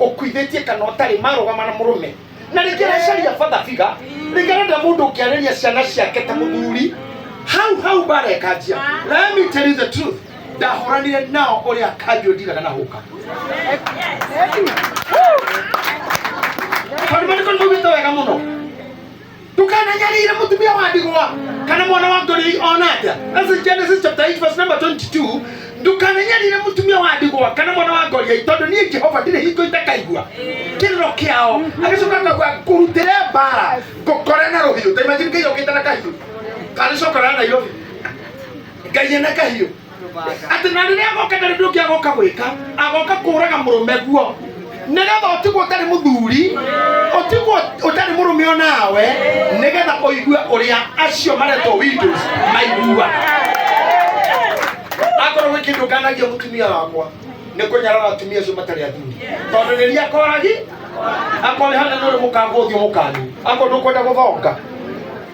ũkuithĩtie kana ũtarĩ marũgama na mũrũme na rĩngĩ aracaria bathabiga rĩngĩ arenda mũndũ ũngĩarĩria ciana ciake ta mũthuri hau hau bara ĩkanjia let me tell you the truth ndahũranire nao ũrĩa kanjũ ndigana na hũka tondũ maandĩko nĩmaugĩte wega mũno ndũkananyarĩire mũtumia wa ndigwa kana mwana wa ngori ona atĩa That's in Genesis chapter 8 verse number 22 ndũkananyarĩire mũtumia wa ndigwa kana mwana wa ngori tondũ niĩ jehova ndirĩ hingo itakaigua kĩrĩro kĩao agĩcoka akauga ngũrutĩre mbara ngũkore na rũhiũ ta imagine ngai okĩte na kahiũ karĩcokora na nairobi ngai ena kahiũ atĩ na rĩrĩa agoka ndarĩ ũndũ ũngĩ agoka gwĩka agoka kũraga mũrũme guo nĩgetha ũtigwo ũtarĩ mũthuri ũtigwo ũtarĩ mũrũme o nawe nĩgetha ũigue ũrĩa acio maretwo windows maiguaga akorwo gwĩ kĩndũ nganagia mũtumia wakwa nĩ kũnyarara atumia acio matarĩ athuri tondũ rĩrĩa akoragi akorehana nĩ ũrĩ mũkangu ũthiũ mũkangu akorwo ndũkwenda gũthonga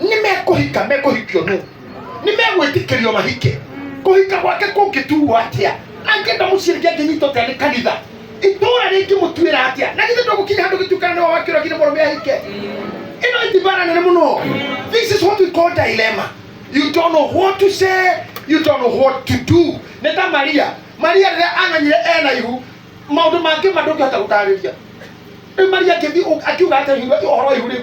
nĩ mekũhika mekũhikio nũ nĩ megwĩtĩkĩrio mahike kũhika gwake kũngĩtuo atĩa angĩenda mũciĩ rĩngĩ angĩnyita ũtĩa nĩ kanitha itũũra rĩngĩ mũtuĩra atĩa na githĩ ndũgũkinya handũ gĩtuĩkana nĩ wawakĩrwo nginya mũrũme ahike ĩno ĩtibara nene mũno this is what we call dilemma you don't know what to say you don't know what to do nĩ ta maria maria rĩrĩa amenyire ena ihu maũndũ mangĩ mandũ ngĩhota gũtarĩria rĩu maria akĩthiĩ akiuga atĩa ihu- ũhoro wa ihu rĩu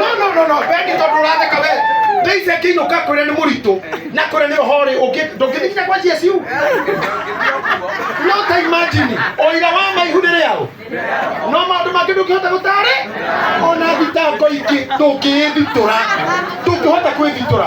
no no no no bendi tondu uratheka we ndeize kinyo ka kwire ni muritu na kwire ni ohori ungi ndungithikinya kwa Yesu no ta imagine oira wa maihu ni riao no maundu mangĩ ndũngĩhota gũtarĩ ona thitango ingĩ ndũngĩĩthitũra ndũngĩhota kwĩthitũra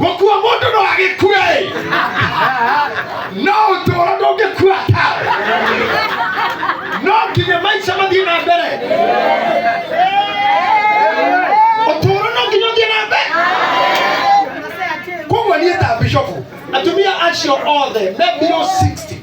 gũkua mũndũ no agĩkue ĩ no ũtũũro ndũngĩkua ta no nginya maica mathiĩ na mbere ũtũũro no nginya ũthiĩ na mbere koguo niĩ ta bishofu atumia acio othe me mbirũ 60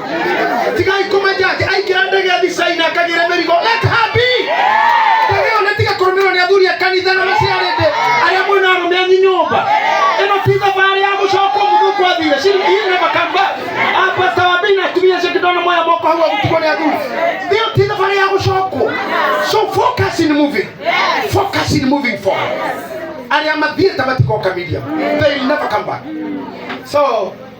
tigai kũmenja atĩ aingĩra ndege ya thicai na akagĩre mĩrigo let her be ndege ĩyo nĩ tiga kũrũmĩrwo nĩ athuri a kanitha na maciarĩte arĩa mwĩ na arũme anyu nyũmba ĩno ti thabarĩ ya gũcokwo mũthũkũ athire she he never come back Ah, pastor wa mbei na atumia acio kĩndona moya moko hau agũtigwo nĩ athuri ĩyo ti thabarĩ ya gũcokwo so focus in moving focus in moving forward arĩa mathiĩte matikoka media they will never come back so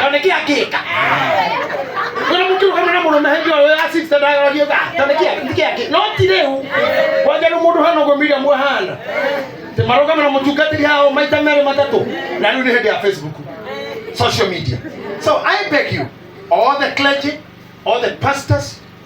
tanĩkĩ akĩka na mũkĩrũ kamwe na mũrũme hĩndĩ ĩyo ya six na ndagaragia tha tanĩkĩ akĩka akĩ no ti rĩu kwanja nĩ mũndũ hana ũguo Miriam ahana tĩ marũgame na mũtungatĩri hao maita merĩ matatũ na rĩu nĩ hĩndĩ ya Facebook social media so I beg you all the clergy all the pastors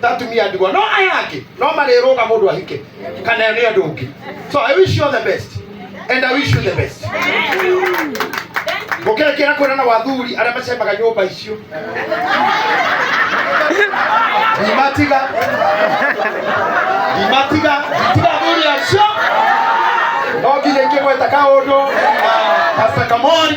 ta atumia ndigwa no aya angĩ no marĩrũga mũndũ ahike kana nĩ andũ ũngĩ so i wish you all the best and i wish you the best mũkĩrekera kwĩra na wathuri arĩa macemaga nyũmba icio ndimatiga ndimatiga nditiga athuri acio no nginya ingĩgweta kaũndũ kasa kamori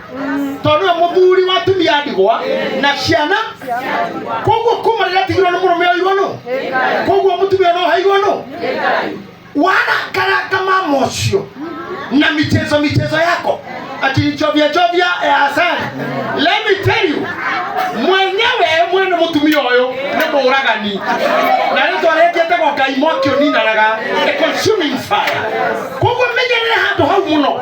tondũ nĩwe mũthuri wa atumia ndigwa na ciana koguo kuma rĩrĩa atigirwo nĩ mũrũme oirwo nũ koguo mũtumia no hairwo nũ wanakaranga mama ũcio na michezo michezo yako akinichovya chovya ya asali let me tell you mwenyewe mwene mũtumia ũyũ nĩ mũũragani na rĩu twarĩkĩte gwa ngai mwaki ũninanaga a consuming fire koguo menyerere handũ hau mũno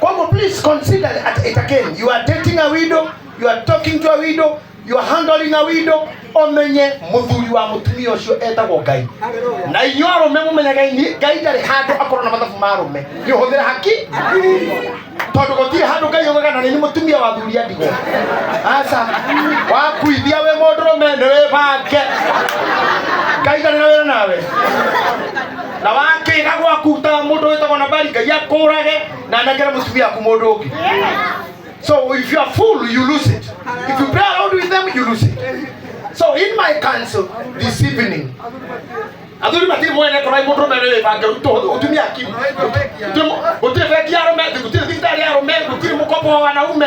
Kwa hivyo please consider at it again. You are dating a widow, you are talking to a widow, you are handling a widow. Omenye muthuri wa mutumia ucio etagwo Ngai. Na inyuĩ arũme mũmenyaga ini- Ngai ndarĩ handũ akorwo na mathabu ma arũme. Nĩ ũhũthĩra haki? Tondũ gũtirĩ handũ Ngai ogaga na nĩ mũtumia wa thuri andigwo. Aca, wakuithia wĩ mũndũrũme nĩ wĩbange. Ngai ndarĩ na wĩra nawe. na wakĩga gwaku ta mũndũ wĩtagwo nabali ngai akũrage na anengere mũtumia aku mũndũ ũngĩ so if you are full you lose it if you play around with them you lose it so in my council this evening athuri matiri mwene korwo ai mũndũ mere bange ũtumia akimu gũtirĩ bengi ya rũme gũtirĩ thibitarĩ ya rũme gũtirĩ mũkombo wa wanaume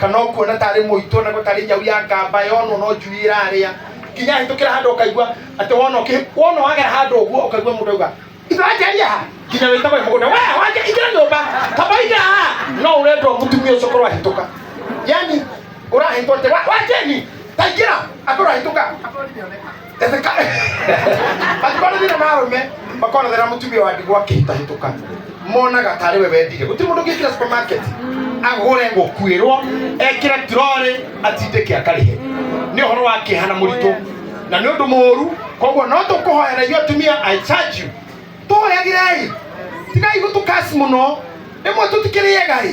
kana ũkuona tarĩ mũitũ ona ko tarĩ nyau ya ngamba yonwo no njui ĩrarĩa nginya hĩtũkĩra handũ ũkaigua atĩ wona ũkĩ- wona wagera handũ ũguo ũkaigua mũndũ auga ithe wanjaria ha nginya wĩtagwo mũgũnda we wanja ingĩra nyũmba kaba ingĩra ha no ũrendwo mũtumia ũcio korwo ahĩtũka yani ũrahĩtwo atĩ "Wa- wanjeni taingĩra akorwo ahĩtũka Etheka angĩkorwo thĩna na arũme makonagĩra mũtumia wa ndigwa akĩhĩtahĩtũka monaga tarĩ we wendire gũtirĩ mũndũ ũngĩkĩra supermarket agũre gũkuĩrwo ekĩre turorĩ atindĩke akarĩhe nĩ ũhoro wa kĩeha na mũritũ na nĩ ũndũ mũũru koguo no tũkũhoera inyuĩ atumia i charge you tũhoyagĩrei tigai gũtũkasi mũno rĩmwe tũtikĩrĩega ĩ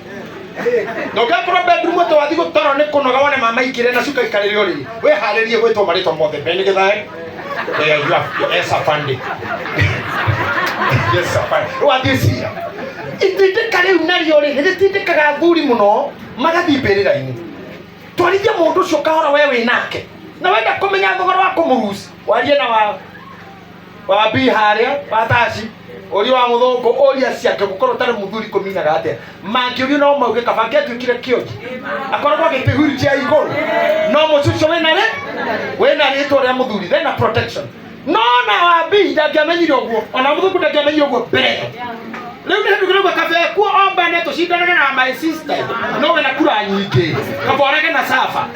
ndũngĩkorwo bedroom atĩ wathiĩ gũtoro nĩ kũnoga wone mama ikĩrĩa na cuka ikarĩrĩ o rĩrĩ wĩharĩrie gwĩtwo marĩtwa mothe mbere nĩ gĩthaĩ Eh, you have- yes, afande. Yes, afande. Rĩu wathiĩ cira itindĩka rĩu narĩo rĩ nĩ rĩtindĩkaga athuri mũno magathiĩ mbĩrĩra-inĩ twarithia mũndũ ũcio kahora we wĩ nake na wenda kũmenya thogora wa kũmũruci warie na wa wa bi harĩa wa taci ũria wa mũthũngũ ũria ciake gũkorwo tarĩ mũthuri kũminaga atĩa mangĩũrio no mauge kaba angĩatuĩkire kĩonji akoragwo agĩtĩhuri cia igũrũ no mũcucio wĩna rĩ wĩna rĩtwa rĩa mũthuri thena protection no na wa bi ndangĩamenyire ũguo ona mũthũngũ ndangĩamenyire ũguo mbere rĩu nĩ hĩndũ kĩrauga kaba ekuo ombane tũcindanage na my sister no wĩna kura nyingĩ kaba orage na saba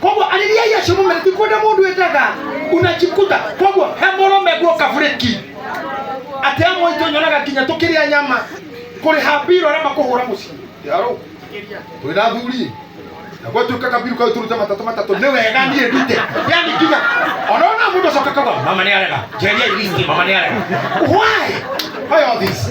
koguo arĩria iria cio mũmere tikũnde mũndũ ĩtaga unajikuta koguo he mũrũme guoka burĩki atĩ amwe itũ nyonaga nginya tũkĩrĩa nyama kũrĩha mbiro arĩa makũhũra mũciĩ yarũ twĩ na thuri na gwatuĩka kabiru kau tũrute matatũ matatũ nĩ wega niĩ ndute yani nginya ona ona mũndũ acoka kauga mama nĩ arega njeria iristi mama nĩ arega why why all this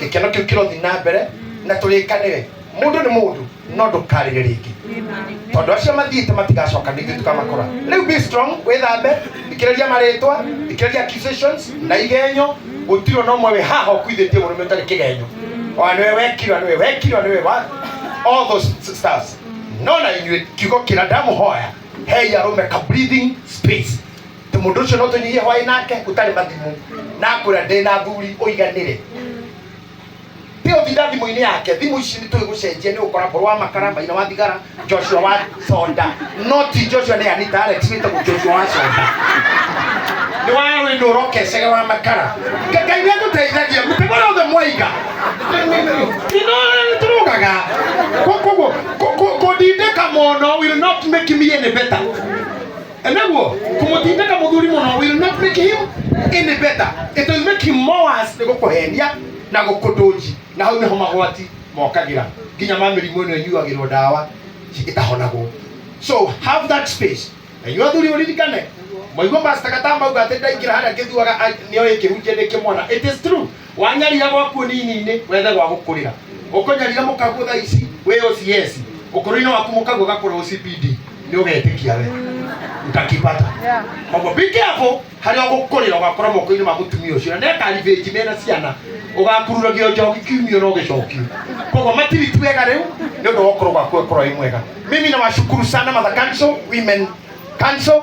gĩkeno kĩu kĩrothi na mbere na tũrĩkanĩre mũndũ nĩ mũndũ no ndũkarĩre rĩngĩ tondũ acio mathiĩte matigacoka ningĩ tũkamakora rĩu be strong wĩthambe ikĩrĩria marĩtwa ikĩrĩria accusations na igenyo gũtirwo na ũmwe wĩ haha ũkuithĩtie mũrũme ũtarĩ kĩgenyo ona nĩwe wekirwa nĩwe wekirwa nĩwe wa all those stars no na inyuĩ kiugo kĩra ndamũhoya hei arũme ka breathing space tondũ mũndũ ũcio no tũnyihie hwaĩ nake ũtarĩ mathimũ na akwĩra ndĩ na thuri ũiganĩre tiga ũtinda thimũ-inĩ yake thimũ ici nĩ tũĩ gũcenjia nĩ gũkora korwo wa makara maina wa thigara joshua wa soda no ti joshua nĩ anita alex wĩtagwo joshua wa soda nĩ wa wĩndũ ũrokecege wa makara ngai nĩ atũteithagia mũtego wothe mwaiga nĩ tũrũgaga koguo kũndindĩka mũno will not make me any better Enaguo, kumutindika muthuri muno will not make him any better. It will make him more worse ni gukuhenia na gukutunji. Na hau niho magwati mokagira. Nginya ma mĩrimũ ĩno ĩnyuagĩrwo ndawa ĩtahonagwo. So have that space. Na inyuĩ athuri ũririkane mwaigua pastor Katamba auga atĩ ndaingĩra harĩa ngĩthuaga nĩoĩ kĩhunjia nĩ kĩmwana. It is true. wanyarira gwaku nini-inĩ wethe gwa gũkũrĩra ũkũnyarira mũkaguo thaa ici wĩ OCS ũkũrũ-inĩ waku mũkaguo gakũrwo CPD nĩ ũgetĩkia we utakipata koguo be careful harĩa ũgũkũrĩra ũgakora moko-inĩ ma mũtumia ũcio na nĩakaribĩnji mena ciana ũgakururagio njoki kiumio na ũgĩcokio koguo matiriti wega rĩu nĩ ũndũ wa ũkũrũ gwaku ũkorwo wĩ mwega mimi nawashukuru sana mother council women council